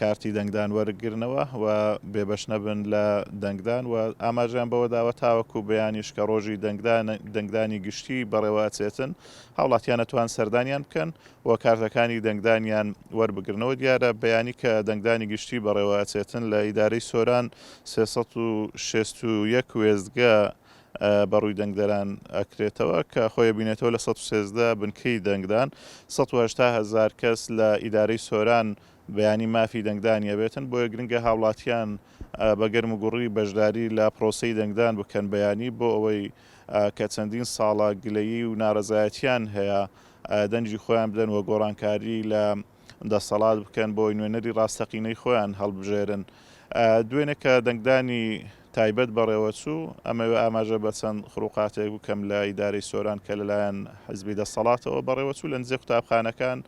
کارتی دەنگدان وەرگرنەوە و بێبەش نەبن لە دەنگدان و ئاماژەیان بەوەداوە تاوەکو بەیانیش کە ڕۆژی دەنگدانی گشتی بەڕێوە ئەچێتن هاوڵاتیان ئەتوان سەردانیان بکەن و کارتەکانی دەنگدانیان وەربگرنەوە دیارە بەیانی کە دەنگدانی گشتی بەڕێوە ئەچێتن لە ئیدارەی سۆران سێ سەد و شەست و یەک وێستگە بە ڕووی دەنگدەران ئەکرێتەوە کە خۆی ئەبینێتەوە لە سەد و سێزدە بنکەی دەنگدان سەد و هەشتا هەزار کەس لە ئیدارەی سۆران بەیانی مافی دەنگدانی ئەبێتن بۆیە گرنگە هاوڵاتیان بە گەرم و گوڕی بەشداری لە پرۆسەی دەنگدان بکەن بەیانی بۆ ئەوەی کە چەندین ساڵە گلەیی و نارەزایەتیان هەیە دەنگی خۆیان بدەن و گۆڕانکاری لە دەسەڵات بکەن بۆی نوێنەری ڕاستەقینەی خۆیان هەڵبژێرن. دوێنێ کە دەنگدانی تایبەت بەڕێوەچوو، ئەمەوێ ئاماژە بە چەند خروقاتێک بکەم لە ئیدارەی سۆران کە لەلایەن حزبی دەسەڵاتەوە بەڕێوەچوو، لە نزیک قوتابخانەکان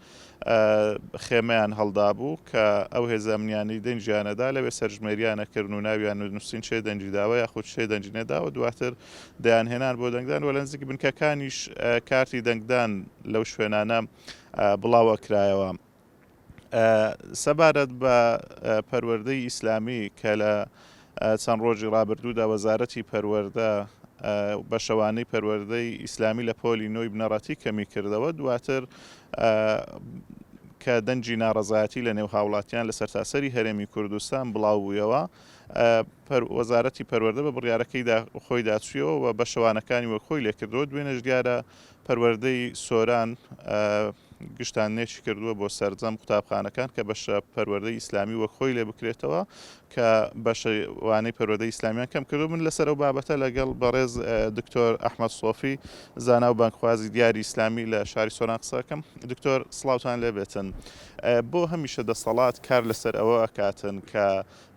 خێمەیان هەڵدابوو کە ئەو هێزە ئەمنییانەی دەنگیانەدا لەوێ سەرژمێرییانەکرد و ناویان و نووسین چێ دەنگی داوە یاخود چێ دەنگی نەدا و دواتر دەیانهێنان بۆ دەنگدان و لە نزیک بنکەکانیش کارتی دەنگدان لەو شوێنانە بڵاوەکرایەوە سەبارەت بە پەروەردەی ئیسلامی کە لە چەند ڕۆژی ڕابردوودا وەزارەتی پەروەەردە بە شەوانەی پەروەردەی ئیسلامی لە پۆلی نۆی بنەڕەتی کەمی کردەوە دواتر کە دەنجی ناڕزایەتی لە نێو هاوڵاتیان لە سەرتاسەری هەرێمی کوردستان بڵاو بوویەوە وەزارەتی پەروەەردە بە بڕیارەکەیدا خۆیدا چویەوە و بە شەوانەکانی وەک خۆی لێکردەوە دوێنێش دیارە پەروەردەی سۆران گشتاننێکی کردووە بۆ سەرجەم قوتابخانەکان کە بەشە پەروەردەی ئیسلامی وەک خۆی لێ بکرێتەوە کە بەشەوانەی پەروەردەی ئیسلامیان کەم کردو من لەسەر و بابەتە لەگەڵ بەڕێز دکتۆر ئەحمد سۆفی زانا و بانکخوازی دیاری ئیسلامی لە شاری سۆران قسەکەم دکتۆر سلااوان لێبێتن بۆ هەمیشە دەسەڵات کار لەسەر ئەوە ئەکاتن کە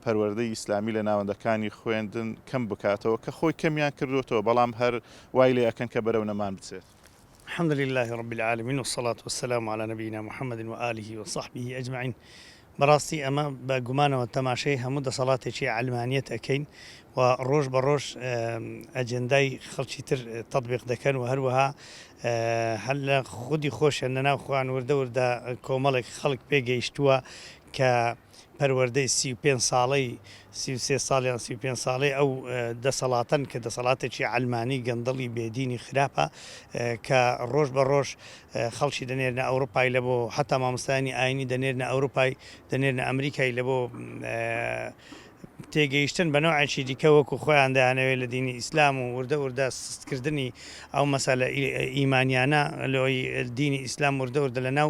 پەروەردەی ئیسلامی لە ناوەندەکانی خوێندن کەم بکاتەوە کە خۆی کەمیان کردۆتەوە بەڵام هەر وای لێ ئەکەن کە بەرەو نەمان بچێت. الحمد للە رب العالمین والصلاة والسلام علی نبینا محمد وآله وصحبه اجمعین بەڕاستی ئەمە بە گومانەوە تەماشەی هەموو دەسەڵاتێکی عەلمانیەت ئەکەین و ڕۆژ بە ڕۆژ ئەجێندای خەڵکی تر تەطبیق دەکەن و هەروەها هەر لە خودی خۆشیان لەناو خۆیان وردە وردە کۆمەڵێک خەڵک پێگەیشتووە کە پەروەردەی سی و پێنج ساڵەی سی و سێ ساڵ یان سی و پێنج ساڵەی ئەو دەسەڵاتەن کە دەسەڵاتێکی عەلمانی گەندەڵی بێ دینی خراپە کە ڕۆژ بە ڕۆژ خەڵکی دەنێرنە ئەوروپای لە بۆ حتا مامۆستایانی ئاینی دەنێرنە ئەوروپای دەنێرنە ئەمریکای لە بۆ تێگەیشتن بە نەوعێکی دیکە وەکو خۆیان دەیانەوێت لە دینی ئیسلام و وردە وردە سستکردنی ئەو مەسەلە ئیمانیانە لۆی دینی ئیسلام وردە وردە لە ناو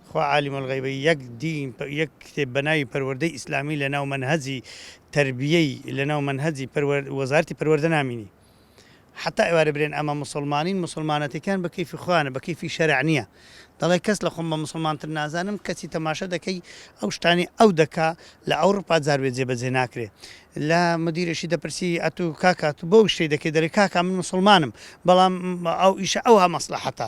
خوا عالم الغیبە یەک دین یەک کتێب بەناوی پەروەردەی ئیسلامی لەناو مەنهەجی تەربیەی لەناو مەنهەجی پەروەر وەزارەتی پەروەردە نامینی حەتا ئێوارە برێن ئەمە موسڵمانین موسڵمانەتیکان بە کەیفی خۆیانە بە کەیفی شەرع نیە دەڵێ کەس لە خۆم بە موسڵمان تر نازانم کەچی تەماشا دەکەی ئەو شتانەی ئەو دەکا لە ئەوڕوپا جار بێ جێبەجێ ناکرێ لە مدیرێکی دەپرسی ئەتو کاکا تو بۆ شتێ دەکەی دەرێ کاکا من موسڵمانم بەڵام ئەو ئیشە ئەوها مەسلەحەتە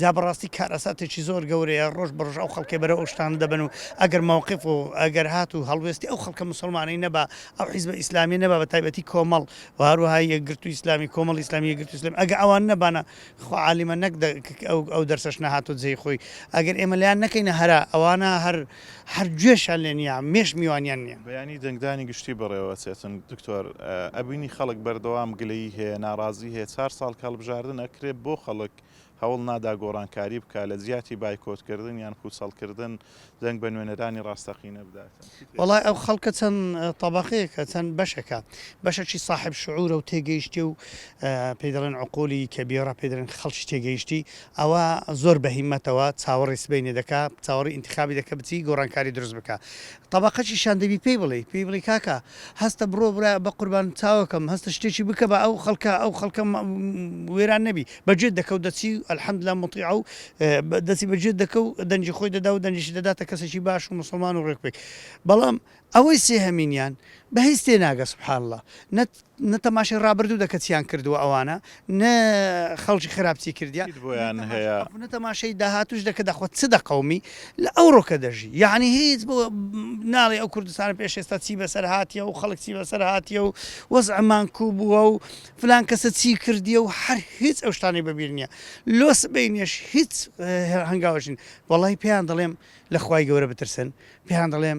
جا بەڕاستی کارەساتێکی زۆر گەورەیە ڕۆژ بە ڕۆژ ئەو خەڵکەی بەرەو ئەو شتانە دەبەن و ئەگەر مەوقف و ئەگەر هات و هەڵوێستی ئەو خەڵکە موسڵمانەی نەبا ئەو حیزبە ئیسلامیە نەبا بە تایبەتی کۆمەڵ و هەروەها یەکگرتووی ئیسلامی کۆمەڵی ئیسلامی یەکگرتووی ئیسلامی ئەگە ئەوان نەبانا خوا عالیمە نەک دە ک ئەو ئەو دەرسەش نەهاتۆ جێی خۆی ئەگەر ئێمە لێیان نەکەینە هەرا ئەوانە هەر هەر گوێشیان لێ نیە مێش میوانیان نیە. بەیانی دەنگدانی گشتی بەڕێوە ئەچێتن دکتۆر ئەبینی خەڵک بەردەوام گلەیی هەیە ناڕازی هەیە چار ساڵ کە هەڵبژاردن ئەکرێ بۆ خەڵک هەوڵ نادا گۆڕانکاری بکات، لە جیاتی بایکۆتکردن یان پووچەڵکردن، دەنگ بە نوێنەرانی ڕاستەقینە بدات. وەڵای ئەو خەڵکە چەند تەبەقەیەکە، چەند بەشێکە. بەشەکی ساحێب شعوورە و تێگەیشتێ و پێی دەڵێن عقولی کەبیرە، پێی دەڵێن خەڵکی تێگەیشتی، ئەوە زۆر بە هیمەتەوە چاوەڕێی سبەینێ دەکا، چاوەڕێی ئینتخابی دەکا بچی گۆڕانکاری دروست بکا. تەبەقەکیشیان دەبی پێی بڵێی، پێی بڵێی کاکە هەستە بڕۆ برا بە قوربان چاوەکەم، هەستە شتێکی بکە با ئەو خەڵکە، ئەو خەڵکە وێران نەبی. بە جێت دەکەو دەچی و الحمدللە موطیعە و دەچی بە جێت دەکەو دەنگی خۆی دەدا و دەنگیشی دەداتە کەسێکی باش و موسڵمان و ڕێک پێک بەڵام ئەوەی سێهەمینیان بە هیچ تێ ناگە سبحان اللە نە نە تەماشای ڕابردوو دەکە چیان کردووە ئەوانە نە خەڵکی خراپ چی کردیان هیچ بۆیان نە تەماشا هەیە. ئەو نە تەماشای داهاتوش دەکە دەخوا چ دەقەومی لە ئەوڕۆکە دەژی یەعنی هیچ بۆ ناڵێ ئەو کوردستانە پێش ئێستا چی بەسەر هاتیە و خەڵک چی بەسەر هاتیە و وەزعمان کو بووە و فلان کەسە چی کردیە و هەر هیچ ئەو شتانەی بە بیر نیە لۆ سبەینێش هیچ هەنگاوێکش نین وەڵای پێیان دەڵێم لە خوای گەورە بترسن پێیان دەڵێم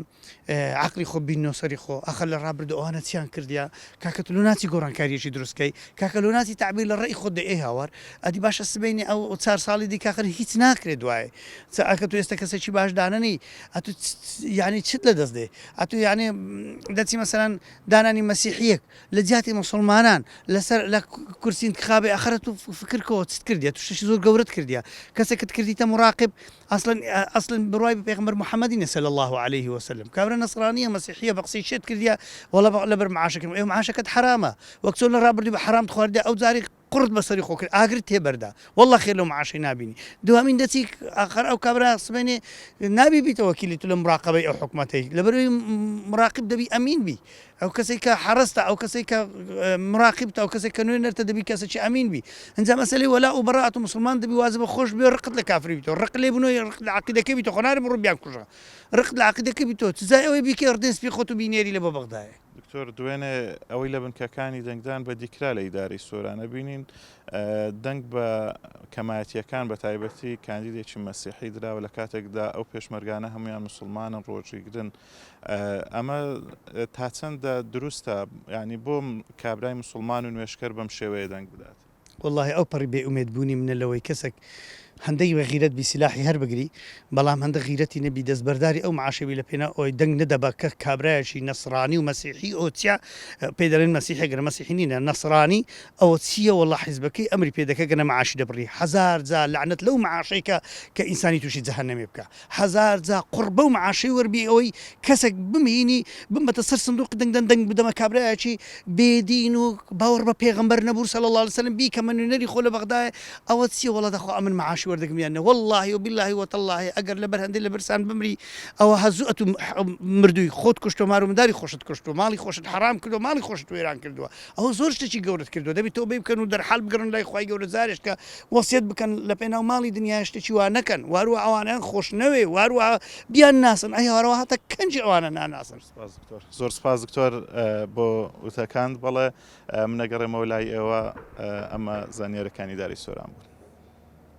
عەقڵی خۆ بیننەوە سەری خۆ ئەخە لە ڕابردوو ئەوانە چیان کردیە کاکە تۆ لۆ ناچی گۆڕانکاریەکی دروست کەی کاکە لۆ ناچی تەعبیر لە ڕێی خۆت دەی ئەی هاوار ئەدی باشە سبەینێ ئەو ئەو چار ساڵی دی کاکە هیچ ناکرێ دوایێ چ ئەکە تو ئێستە کەسێکی باش دانەنی ئەتو یانی چت لە دەست دێ ئەتو یانێ دەچی مەسەلەن دانانی مەسیحیەک لە جیاتی موسڵمانان لە سەر لە کورسی انتخابی ئەخرە تو فکر کۆ چت کردیە تو شتێکی زۆر گەورەت کردیە کەسێکت کردیتە مراقب ئەسڵەن ئەسڵەن بڕوای بە پێغەمبەر محمدی نیە صلی اللە علیە و سلم کابرا نەسڕانیە مەسیحیە بە قسەی شێت کردیە وەڵا لەبەر معاشەکەی ئەوێ معاشەکەت حەرامە وەک چۆن لە ڕابردوو بە حەرامت خواردیە ئەو جاریش قوڕت بەسەری خۆ کرد ئاگرت تێ بەردا واللە خێر لەو معاشەی نابینی دوهەمین دەچی ئاخەر ئەو کابرا سبەینێ نابی بیتە وەکیلی تو لە مراقەبەی ئەو حکومەتەی لەبەروی مراقب دەبی ئەمین بی ئەو کەسەی کە حەرەستە ئەو کەسەی کە مراقب تا ئەو کەسەی کە نوێ نەرتە دەبی کەسەی ئەمین بی ئەنجا مەسەلی وەلا و بەڕات و مسلمان دەبی وازە بە خۆش بێ ڕقت لە کافری بیتەوە ڕق لێ بنۆی ڕق لە عقیدەکەی بیتە خۆناری بڕو بیان کوژە ڕق لە عقیدەکە بیتەوە تزای ئەوەی بیکە ڕدێن سپی خۆت و بینێری لە بۆ بەغدایە دکتۆر دوێنێ ئەوەی لە بنکەکانی دەنگدان بەدیکرا لە ئیدارەی سۆرانە بینین دەنگ بە کەمایەتیەکان بە تایبەتی کاندیدێکی مەسیحی دراوە لە کاتێکدا ئەو پێشمەرگانە هەمویان مسلمانن ڕۆژیگرن ئەمە تا چەندە دروستە ینی بۆم کابرای مسلمان و نوێشکەر بەم شێوەیە دەنگ بدات وەڵاهی ئەو پەڕی بێ ئومێد بوونی منە لەوەی کەسەک هەندەی بە غیرەت بی سیلاحی هەر بگری بەڵام هەندە غیرەتی نەبی دەست بەرداری ئەو معاشە بی لە پێناو ئەوەی دەنگ نەدە بە کە کابرایەکی نەسڕانی و مەسیحی ئەوە چیا پێی دەڵێن مەسیحێ گەر مەسیحی نینە نەسڕانی ئەوە چییە وەڵا حیزبەکەی ئەمری پێ دەکە گەنە معاشی دەبڕی هەزار جار لەعنەت لەو معاشەی کە کە ئینسانی تووشی جەهەنەمێ بکا هەزار جا قوڕ بەو معاشەی وەر بی ئەوەی کەسەک بمینی بمەتە سەر سندوقی دەنگ دەن دەنگ بدەمە کابرایەکی بێ دین و باوەڕ بە پێغەمبەر نەبوو صلی اللە علیە وسلم بیکەمە نوێنەری خۆ لە بەغدایە ئەوە چیە وەڵا دەخوا ئەمن معاشی وەردەگرم یان نە واللەهی و باللەهی و تاللەهی ئەگەر لە بەر هەندەی لە برسان بمری ئەوە هەزوو ئەتوو مردووی خۆت کوشت و مار و منداری خۆشت کوشت و ماڵی خۆشت حەرام کرد و ماڵی خۆشت وێران کردووە ئەوە زۆر شتەکی گەورەت کردوە دەبی تۆبەی بکەن و دەرحال بگەڕن لای خوای گەورە جارێش کە وەسیەت بکەن لە پێناو ماڵی دنیا شتەکی وا نەکەن واروە ئەوانیان خۆش نەوێ واروە بیان ناسن ئەی هەوارەوە هاتە کەنجی ئەوانە ناناسن زۆر سپاس دکتۆر بۆ وتەکان بەڵێ منەگەڕێمەوە لای ئێوە ئەمە زانیارەکانی داری سۆران بوون